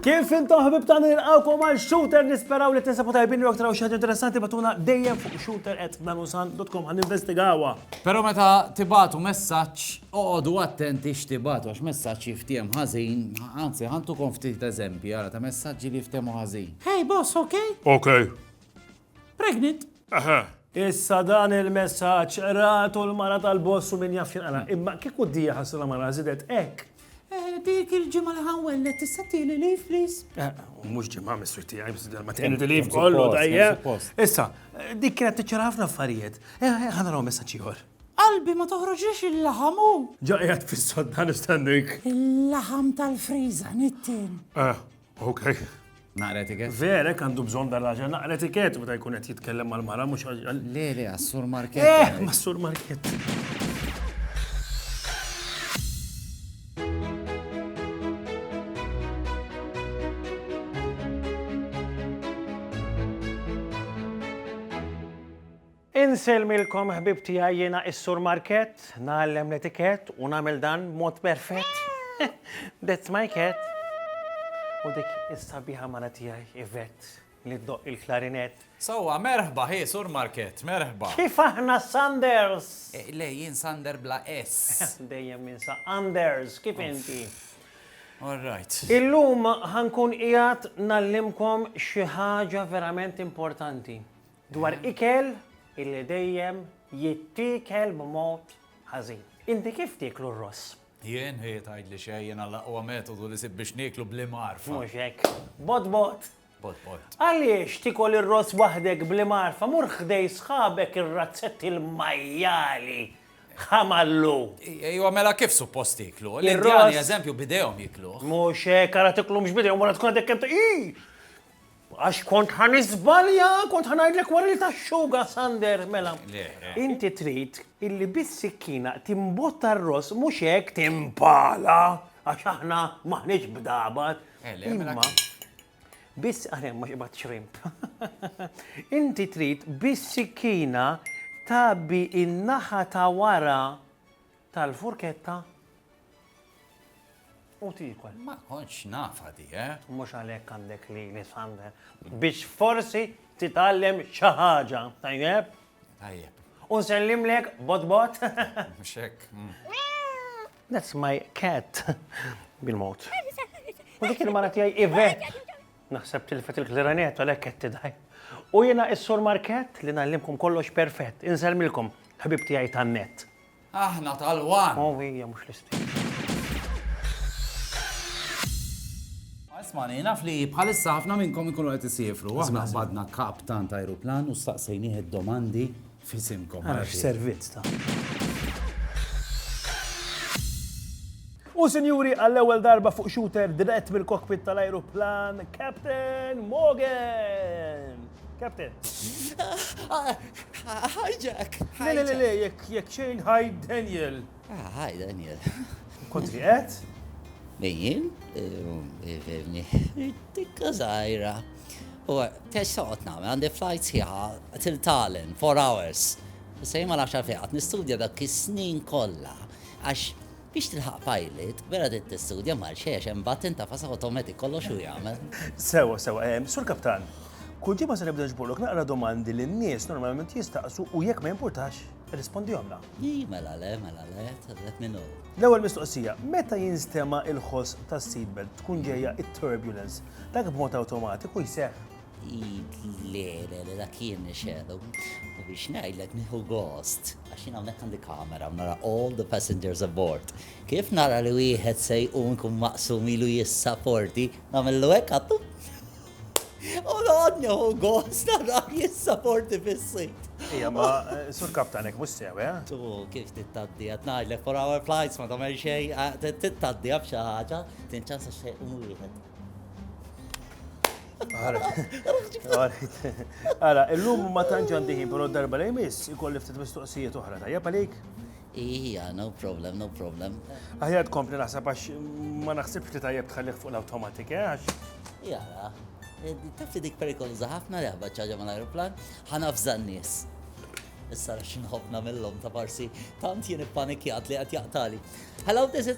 Kif intom ħbib ta' nilqawkom għal shooter nisperaw li tinsabu tajbin li aktar xi interessanti batuna dejjem fuq shooter at nanusan.com għan investigawa. Pero meta tibatu messaġġ Oqogħdu attenti x'tibgħatu għax messaġġ jiftiehem ħażin, anzi ħantukom ftit eżempji ara ta' messaġġi li jiftehmu ħażin. Hey boss, okay? Okay. Pregnant? Eħe. Issa dan il-messaġġ qratu l-mara tal-boss u min jaf x'inqara. Imma kieku d-dija ħassuna mara żidet hekk. Eh, dik il-ġimgħa li ħanwelled tista' tieli leave please. Eh, mhux ġimgħa mistri tiegħi, mistri ma tieni di leave kollu tajjeb. Issa, dik kienet tiċċara ħafna affarijiet. Eh, ħanaraw messaġġ ieħor. Qalbi ma toħroġlix il-laħam u. Ġa qiegħed fis-sodda nistennik. Il-laħam tal-friża nittin. Eh, okej. Naqra etiket? Verek għandu bżonn dan raġel naqra etiket meta jkun qed jitkellem mal-mara mhux għal. Le, le, għas-sur Market. Eh, mas-sur Market. Insellmilkom ħbieb tiegħi jiena is-Sur Markett, ngħallem l-etikett u nagħmel dan b'mod perfett. That's my cat. U dik is-sabiħa mara tiegħi Yvette li ddoqq il-klarinett. Sewwa, merħba, hi Sur Markett, merħba. Kif aħna Sanders? Le, jien Sander bla S. Dejjem ninsa Anders, kif inti? All right. Illum ħa nkun qiegħed ngħallimkom xi ħaġa verament importanti. Dwar ikel illi dejjem jittiekel b'mod ħażin. Inti kif tieklu r-ross? Jien? Hi tgħidli xejn, jiena l-aqwa metodu li sibt biex nieklu bl-imgħarfa. Mhux hekk. Bott bott! Bott bott. Għaliex tiekol ir-ross waħdek bl-imgħarfa? Mur ħdej sħabek ir-razzetti l-majjali! Ħamallu! Ejwa mela kif suppost tieklu? L-Indjani eżempju b'idejhom jiekluh. Mhux hekk, ara tiklux b'idejhom wara tkun għadek kemm ta' Ii! Għax kont ħa niżbalja, kont ħa ngħidlek wara li taxxuga, Sander, mela. Inti trid illi bis-sikkina timbotta r-ross mhux hekk timpala, għax aħna m'aħniex bdabat. Imma biss aħna mhux ibgħat xrimp. Inti trid bis-sikkina tgħabbi in-naħa ta' wara tal-furketta U tiekol. Ma kontx nafha di, eh? Mhux għalhekk għandek lili, Sander. Biex forsi titgħallem xi ħaġa, tajjeb? Tajjeb. U nsellimlek bot bot? Mhux hekk. That's my cat. Bil-mod. U dik il-mara tiegħi Ivet. Naħseb tilfet il-klarinet għalhekk qed tidħi. U jiena is-Sur Market li nallimkom kollox perfett. Insellmilkom, ħbib tiegħi tan-net. Aħna tal-one! Hu hija mhux l-istess. Ismani, naf li bħalissa ħafna minnkom ikunu qed isiefru. Aħna badna kap tant ajruplan u staqsejnih id-domandi fisimkom. Għax servizz ta'. U sinjuri, għall-ewwel darba fuq shooter dirett mill-cockpit tal-ajruplan, Captain Morgan! Captain. Hi Jack! Le, le, le, le, jekk, jekk xejn, hi Daniel! Ah, hi Daniel! Kont fi qed? Min? Fimni, tikka zaħira. U tex soqot nagħmel, għandi flight sħiħa til Tallinn, 4 hours. Sejma l-10 fiqat, nistudja dak is-snin kollha għax Biex tilħaq pilot, vera trid tistudja Malxi għax hemm button ta' fast automatic kollox hu jagħmel. Sewa, sewa. Sur Kaptan, kull ġimgħa se nibda nġborlok naqra domandi li n-nies normalment jistaqsu u jekk ma jimpurtax, irrispondihomlna. Ii, mela le, mela le, tħallet min hu. L-ewwel mistoqsija, meta jinstema' l-ħoss tas-seatbelt tkun ġejja t-turbulence, dak b'mod awtomatiku jseħħ? Le, le, le, dak jien nixedu. U biex ngħidlek nieħu gost, għax jien hawnhekk għandi kamera, nara all the passengers aboard. Kif nara li wieħed se jqum kun maqsum ilu jissaporti, nagħmillu hekk għattu. U noqgħod nieħu gost nara jissaporti fis-sit. Ija, ma eh, sur kaptanek mhux sew, eh? Tu kif tittaddi qed ngħidlek for our flights ma tagħmel xejn, eh, tittaddi b'xi ħaġa, tinċansa xejn wieħed. Ara, illum ma tantx għandi ħin, però darba li jmiss ikolli ftit mistoqsijiet oħra tajjeb għalik? Ija, no problem, no problem. Aħjar tkompli naħseb għax ma naħsibx li tajjeb tħallih fuq l-automatik, eh, għax. Jara, eh, tafti dik perikoluża ħafna li ħabba ċaġa ma l-aeroplan, ħanafza n-nies. Issa rax nħobna mill-lom ta' parsi, tant jien ippanikjat li għat jaqtali. Hello, this is...